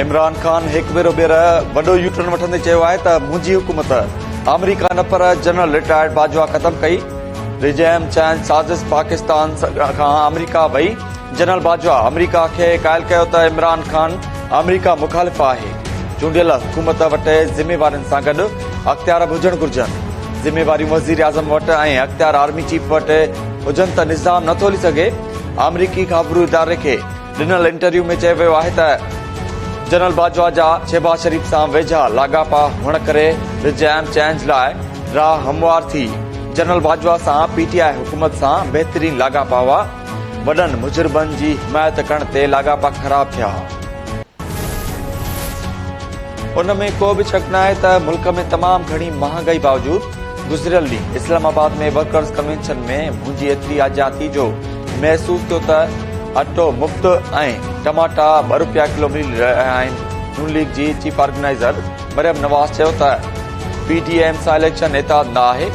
عمران خان هڪ ڀيرو ٻيهر وڏو يو ٽرن وٺندي چيو آهي ته منهنجي حڪومت آمريڪا نه پر جنرل رٽائرڊ باجوا ختم ڪئي رجحان چينج سازش پاڪستان کان آمريڪا وئي جنرل باجوا آمريڪا کي قائل ڪيو ته عمران خان آمريڪا مخالف آهي چونڊيل حڪومت وٽ ذميوارين سان گڏ اختيار به هجڻ گهرجن ذميواريون وزير اعظم وٽ ۽ اختيار آرمي چيف وٽ هجن ته نظام نه ٿو هلي سگهي، آمريڪي خابرو اداري کي ڏنل انٽرويو ۾ چيو ويو آهي ته جنرل باجوا جا شهباز شريف سان ويجها لاڳاپا هئڻ ڪري رجعيم چينج لاء راهه هموار ٿي، جنرل باجوا سان پي ٽي آء حڪومت سان بهترين لاڳاپا هئا، وڏن مجرمن جي حمايت ڪرڻ تي لاڳاپا خراب ٿيا. ان ۾ ڪو به شڪ ناهي ته ملڪ ۾ تمام گهڻي مهانگائي باوجود گذريل ڏينهن اسلام آباد ۾ ورڪرز ڪنوينشن ۾ منهنجي ايتري آجيان ٿي جو محسوس ٿيو ته اٽو مفت ۽ ٽماٽا ٻه روپيا ڪلو ملي رهيا آهن نون ليگ جي چيف آرگنائيزر مريم نواز چيو ته پي ڊي ايم سان اليڪشن اتحاد نه آهي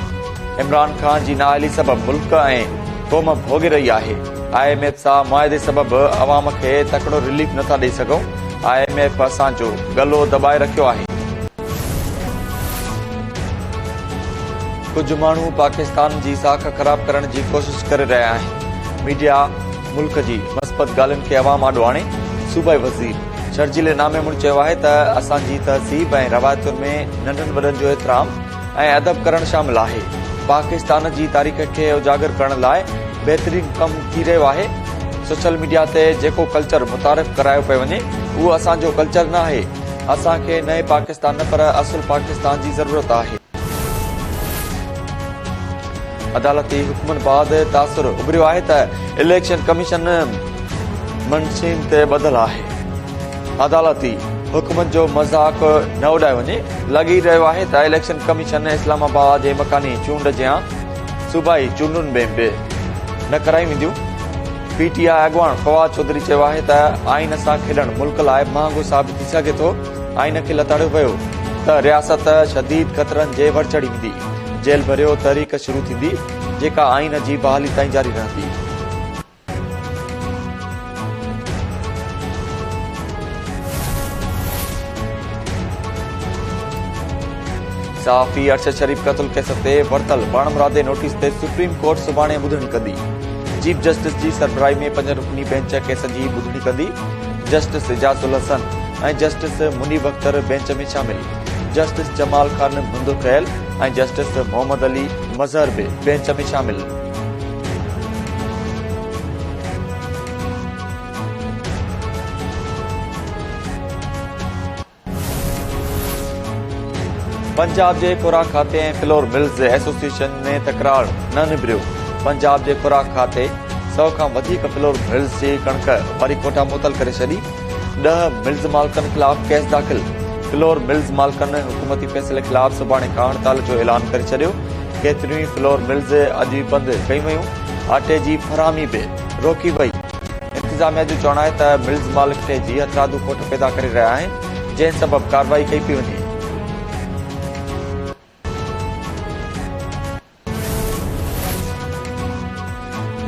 عمران خان جي نااهلي سبب ملڪ ۽ قوم ڀوڳي رهي آهي آء ايم ايف سان معاهدي سبب عوام کي تڪڙو رليف نٿا ڏئي سگهون آء ايم ايف اسان جو گلو دٻائي رکيو آهي ڪجهه ماڻهو پاڪستان جي ساک خراب ڪرڻ جي ڪوشش ڪري رهيا آهن، ميڊيا ملڪ جي مثبت ڳالهين کي عوام آڏو آڻي، صوبائي وزير شرجيل انعامي مڙ چيو آهي ته اسان جي تهذيب ۽ روايتن ۾ ننڍن وڏن جو احترام ۽ ادب ڪرڻ شامل آهي، پاڪستان جي تاريخ کي اجاگر ڪرڻ لاء بهترين ڪم ٿي رهيو آهي، سوشل ميڊيا تي جيڪو ڪلچر متعارف ڪرايو پيو وڃي اهو اسان جو ڪلچر ناهي. اسان کي نئين پاڪستان نه پر اصل پاڪستان جي ضرورت آهي. عدالتي حڪمن بعد تاثر اڀريو آهي ته اليڪشن ڪميشن منشين تي ٻڌل آهي، عدالتي حڪمن جو مذاق نه اڏايو وڃي، لڳي رهيو آهي ته اليڪشن ڪميشن اسلام آباد جي مڪاني چونڊ جيان صوبائي چونڊن ۾ به نه ڪرايون وينديون. پي ٽي آء اڳواڻ فواد چوڌري چيو آهي ته آئين سان کيڏڻ ملڪ لاء مهانگو ثابت ٿي سگهي ٿو، آئين کي لتاڙيو ويو ته رياست شديد خطرن جي ور چڙهي ويندي، جيل ڀريو تحريڪ شروع ٿيندي، جيڪا آئين جي بحالي تائين جاري رهندي. صحافي ارشد شريف قتل ڪيس تي ورتل پاڻمرادي نوٽيس تي سپريم ڪورٽ سڀاڻي ٻڌڻي ڪندي. چيف جسٽس جي سربراهي ۾ پنج رڪني بينچ ڪيس جي ٻڌڻي ڪندي. Justice Ijaz ul Ahsan ۽ justice Munib Akhtar bench ۾ شامل. جسٽس جمال خان منڌ خيل ۽ جسٽس محمد علي مظهر به بينچ ۾ شامل. پنجاب جي خوراڪ کاتي ۽ فلور ملز ايسوسيئيشن ۾ تڪرار نه نبريو، پنجاب جي خوراڪ کاتي سؤ کان وڌيڪ فلور ملز جي ڪڻڪ واري ڪوٺا معطل ڪري ڇڏي، ڏهه ملز مالڪن خلاف ڪيس داخل، فلور ملز مالڪن حڪومتي فيصلي خلاف سڀاڻي کان هڙتال جو اعلان ڪري ڇڏيو، ڪيتريون ئي فلور ملز اڄ ئي بند ڪيون ويون، آٽي جي فراهمي به روڪي وئي. انتظاميا جو چوڻ آهي ته ملز مالڪ تي جي هٿرادو کوٽ پيدا ڪري رهيا آهن جنهن سبب ڪارروائي ڪئي پئي وڃي.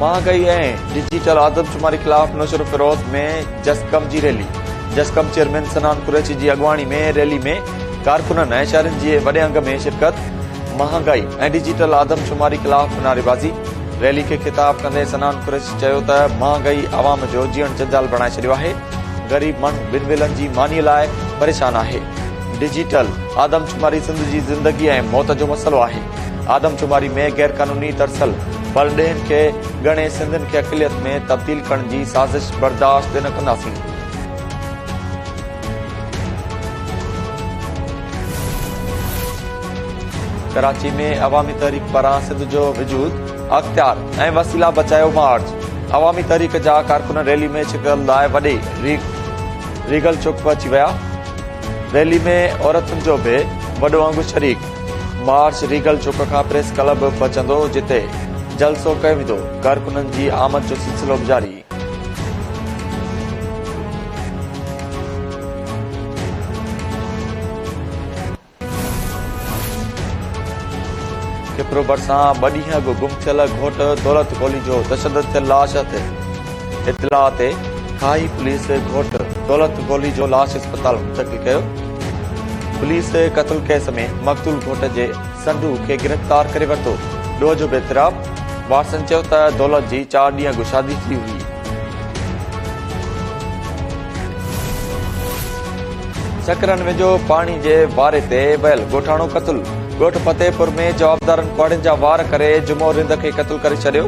مهانگائي ۽ ڊجيٽل آدمشماري خلاف نوشهروفيروز ۾ جسقم جي ريلي، جسقم چيئرمين صنعان قريشي جي اڳواڻي ۾ ريلي ۾ ڪارڪنن ۽ شهرين جي وڏي انگ ۾ شرڪت، مهانگائي ۽ ڊجيٽل آدمشماري خلاف نعريبازي، ريلي کي خطاب ڪندي صنعان قريشي چيو ته مهانگائي عوام جو جيئڻ جنجال بڻائي ڇڏيو آهي، غريب ماڻهو ٻن ويلن جي مانيء لاء پريشان آهي، ڊجيٽل آدمشماري سنڌ جي زندگي ۽ موت جو مسئلو آهي، آدمشماري ۾ غيرقانوني ترسيل پرڏيهين کي ڳڻي سنڌين کي اقليت ۾ تبديل ڪرڻ جي سازش برداشت نه ڪنداسين. ڪراچي ۾ عوامي تحريڪ پاران سنڌ جو وجود اختيار ۽ وسيلا بچايو مارچ عوامي تحريڪ جا ڪارڪن ريلي ۾ شرڪت لاء وڏي ريگل چوڪ پهچي ويا ريلي ۾ عورتن جو به وڏو انگ شريڪ مارچ ريگل چوڪ کان پريس ڪلب پهچندو جتي جلسو ڪيو ويندو ڪارڪنن جي آمد جو سلسلو به جاري کپرو ڀرسان ٻه ڏينهن اڳ گم ٿيل گهوٽ دولت گولي جو تشدد ٿيل لاش هٿ. اطلاع تي کاهي پوليس گهوٽ دولت گولي جو لاش اسپتال منتقل ڪيو. پوليس قتل ڪيس ۾ مقتول گهوٽ جي سنڊو کي گرفتار ڪري ورتو. ڏوهه جو بي اعتراف وارثن چيو ته دولت جي چار ڏينهن اڳ شادي ٿي هئي. سڪرن ويجهو پاڻي جي واري تي ويل ڳوٺاڻو قتل، ڳوٺ فتح پور ۾ جوابدارن ڪهاڙين جا وار ڪري جمعو رند کي قتل ڪري ڇڏيو،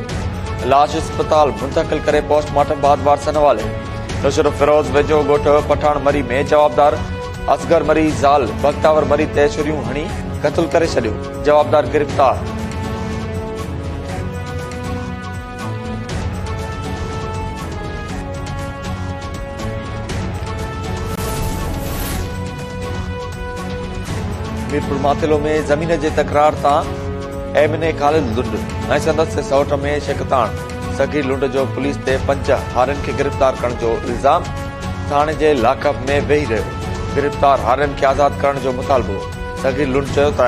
لاش اسپتال منتقل ڪري پوسٽ مارٽم بعد وارثن حوالي. نشرفيروز ويجهو ڳوٺ پٺاڻ مري ۾ جوابدار اصغر مري زال بختاور مري تي ڇريون هڻي قتل ڪري ڇڏيو، جوابدار گرفتار. ميرپور ماٿيلو ۾ زمين جي تڪرار تان MNA Khalid Lund ۽ سندس سئوٽ ۾ شڪتاڻ سگهي لنڊ جو پوليس تي پنج هارين کي گرفتار ڪرڻ جو الزام ٿاڻي جي لاڪ اپ ۾ ويهي رهيو گرفتار هارين کي آزاد ڪرڻ جو مطالبو صغير لنڊ چيو ته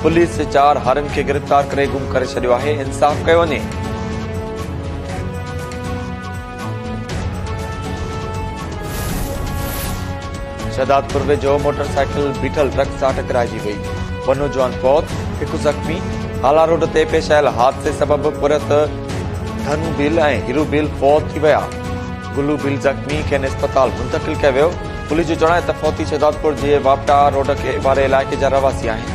پوليس چار هارين کي گرفتار ڪري گم ڪري ڇڏيو آهي، انصاف ڪيو وڃي. شهدادپور ويجهو موٽر سائيڪل بيٺل ٽرڪ سان ٽڪرائجي وئي، ٻه نوجوان فوت، هڪ زخمي، هالا روڊ تي پيش آيل حادثي سبب پورهيت ڌنو ڀيل ۽ هيرو ڀيل فوت ٿي ويا. گلو ڀيل زخمي، کين اسپتال منتقل ڪيو ويو، پوليس جو چوڻ آهي ته فوتي شهدادپور جي واپٽا روڊ واري علائقي جا رهواسي آهن.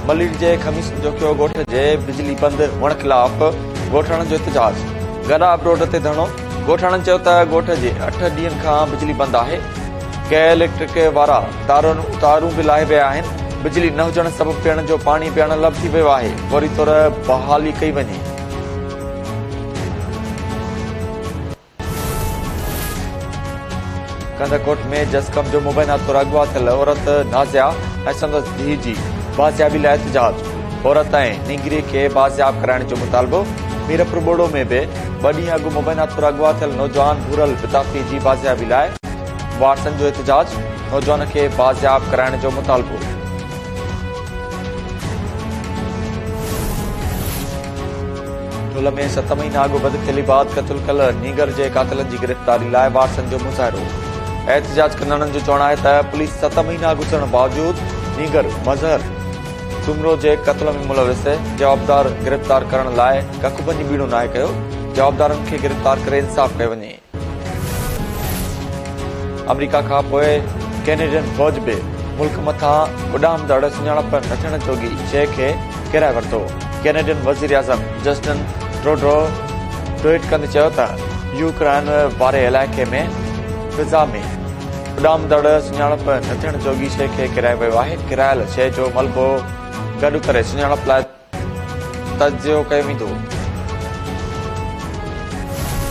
ملير جي خميسن جوکيو ڳوٺ جي بجلي بند هئڻ خلاف ڳوٺاڻن جو احتجاج، گڏاپ روڊ تي ڌرڻو، ڳوٺاڻن چيو ته ڳوٺ جي اٺ ڏينهن کان بجلي بند آهي، ڪيل اليڪٽرڪ وارا تارون تارون به لاهي ويا آهن، بجلي نه هجڻ سبب پيئڻ جو پاڻي به اڻ لڀ ٿي ويو آهي، فوري طور بحالي ڪئي وڃي. ڪنڌڪوٽ ۾ جسقم جو مبينا طور اغوا ٿيل عورت نازيا ۽ سندس ڌيء جي بازيابي لاء احتجاج، عورت ۽ نينگري کي بازياب ڪرائڻ جو مطالبو، ميرپور ٻوڙو ۾ به ٻه ڏينهن اڳ مبينا طور اغوا ٿيل نوجوان ڀورل بتافي جي بازيابي لاء. وارثن جو احتجاج، نوجوان کي بازياب ڪرائڻ جو مطالبو. ڍل ۾ ست مهينا اڳ بدخيلي بعد قتل ڪيل نينگر جي قاتلن جي گرفتاري لاء وارثن جو مظاهرو. احتجاج ڪندڙن جو چوڻ آهي ته پوليس ست مهينا گذرڻ باوجود نينگر مظهر سومرو جي قتل ۾ ملوث جوابدار گرفتار ڪرڻ لاء ڪک به نبيڻو ناهي ڪيو، جوابدارن کي گرفتار ڪري انصاف ڪيو وڃي. آمريڪا کان پوء ڪينيڊين فوج به ملڪ مٿان اڏامندڙ سڃاڻپ نه ٿيڻ جوڳي شيء کي ڪيرائي ورتو. ڪينيڊين وزيراعظم جسٽن ٽروڊو ٽوئيٽ ڪندي چيو ته يوڪرائن واري علائقي ۾ فضا ۾ اڏامندڙ سڃاڻپ نه ٿيڻ جوڳي شيء کي ڪيرائي ويو آهي، ڪيرايل شيء جو ملبو گڏ ڪري سڃاڻپ لاء تجزيو ڪيو ويندو.